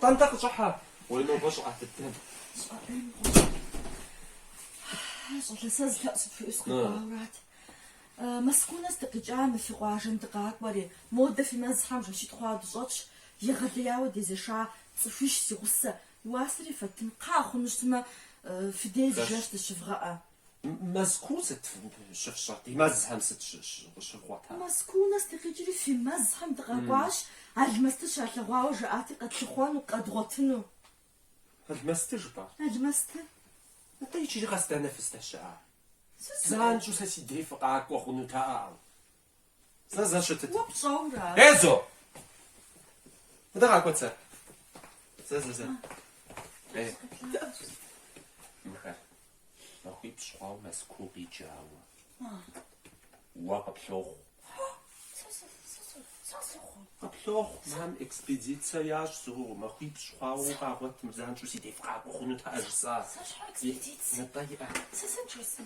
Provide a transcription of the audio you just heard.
Тӏэнтӏэ къыщӏыхьэ. Уи нобэ щӏыӏэ дыдэм. Щӏалэ сэ зы лъэӏу сыпхуиӏэу сыкъэкӏуаурат. Мэзкуу нэс дыкъикӏа мы фи къуажэм дыкъакӏуэри, модэ фи мэзхэм жэщитӏ хъуауэ дыщӏэтщ, егъэлеяуэ дезэша цӏыхуищ си гъусэ, уасэри фэттын кхъыӏэ хъуну щытмэ, фи деж зы жэщ дыщывгъэӏэ. Мэзкуу сыт щыфщӏэр? Ди мэзхэм сыт щывгъуэта? Мэзкуу нэс дыкъикӏри фи мэзхэм дыкъакӏуащ, Алмэсты щалъэгъуауэ жаӏати, къэтлъыхъуэну, къэдгъуэтыну. Алмэсты жыпӏа? Алмэсты. Атӏэ иджыри къэс дэнэ фыздэщыӏар? Занщӏэу сэ си дей фыкъакӏуэ хъунутэӏэ. Зэ, зэ щытыт. Уэ пщӏэура? Езо! Мыдэ къакӏуэт зэ? Зэ, зэ, зэ. Ей. Мыхэр. Махуипщӏ хъуауэ Мэзкуу къикӏауэ. Уэ къыплохъу. Къыплохъу, мам, экспедицэ ящ зу, махуипщӏ хъуауэ укъагъуэтӏым, занщӏэу си дей фыкъакӏуэ хъунутэӏэ жысӏа. Сэ щхьэ экспедицэ? Ныбэ иӏэ. Сэ сэ джэсым.